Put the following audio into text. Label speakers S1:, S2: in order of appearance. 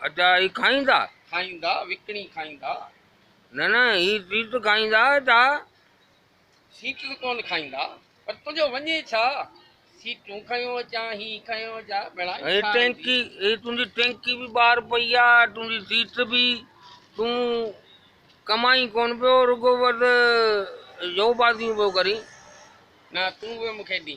S1: ادا هي کائيندا.
S2: کائيندا، وڪڻي
S1: کائيندا. نه نه
S2: هي تيت کائيندا ادا.
S1: سيت ته ڪونه کائيندا. پر تنهنجو وڃي ڇا؟ سيتون کنيو اچان، هي کنيو اچان، ڀيڻا هي ڇا آهن جي؟
S2: هي تنهنجي ٽينڪي به ٻاهر پئي آ، تنهنجي سيت به. تون ڪمائين ڪونه پيو، رڳو بس جوء بازيون پيو ڪرين. نه
S1: تون به مون کي ڏي.